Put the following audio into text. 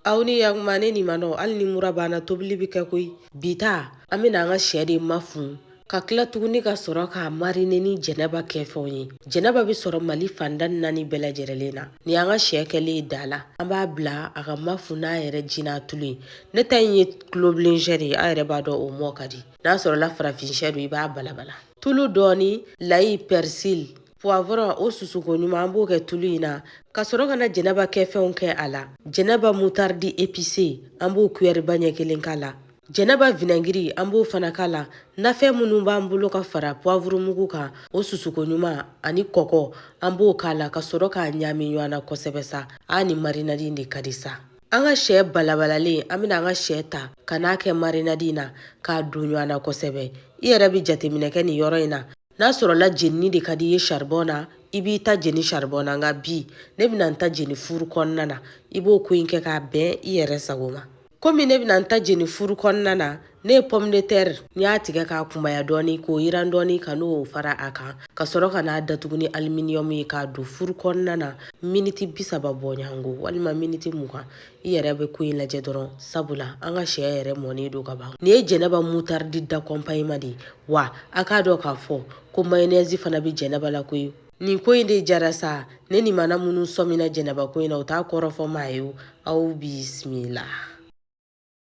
aw ni yakuma ne ni manɔ hali ni mura b'an na tobili bɛ kɛ koyi bi ta an bɛna an ka sɛ de mafun ka tila tuguni ka sɔrɔ k'a marine ni jɛnɛba kɛfɛnw ye jɛnɛba bɛ sɔrɔ mali fandan naani bɛɛ lajɛrɛlen na ni an ka sɛ kɛlen ye da la an b'a bila a ka mafun n'a yɛrɛ ji n'a tulu ye ne ta in ye tulobilensɛ de ye a yɛrɛ b'a dɔn o mɔ ka di n'a sɔrɔla farafinsɛ don i b'a balabala tulu dɔɔni layi pɛrisili puwavurɔn o susuko ɲuman an b'o kɛ tulu in na ka sɔrɔ ka na jɛnɛba kɛfɛnw kɛ a la jɛnɛba mutaridi epise an b'o kuyɛriba ɲɛ kelen k'a la jɛnɛba vinɛngiri an b'o fana k'a la nafɛn minnu b'an bolo ka fara puwavurumugu kan o susuko ɲuman ani kɔgɔ an b'o k'a la ka sɔrɔ k'a ɲaami ɲɔgɔn na kosɛbɛ sa a nin marinadi in de ka di sa an ka sɛ balabalalen an bɛna an ka sɛ ta ka n'a kɛ marinadi in na k'a don ɲɔgɔn na kosɛbɛ i yɛrɛ bɛ jateminɛ kɛ nin yɔrɔ in na n'a sɔrɔla jenini de ka di i ye saribɔn na i b'i ta jeni saribɔn na nka bi ne bɛna n ta jeni furu kɔnɔna na i b'o ko in kɛ k'a bɛn i yɛrɛ sago ma komi ne bɛna n ta jeni furu kɔnɔna na ne ye pomme de terre n y'a tigɛ k'a kunbaya dɔɔni k'o yiran dɔɔni ka n'o fara a kan ka sɔrɔ ka n'a datugu ni aluminium ye k'a don furu kɔnɔna na miniti bi saba bɔɲɔgɔnko walima miniti mugan i yɛrɛ bɛ ko in lajɛ dɔrɔn sabula an ka sɛ yɛrɛ mɔnen don ka ban nin ye jɛnɛba mutaridi d'accompagnement de ye wa a k'a dɔn k'a fɔ ko mayonɛzi fana bɛ jɛnɛba la koyi nin ko in de jara sa ne ni mana minnu sɔmina jɛnɛba ko in na u t'a kɔrɔ fɔ maa ye aw bisimila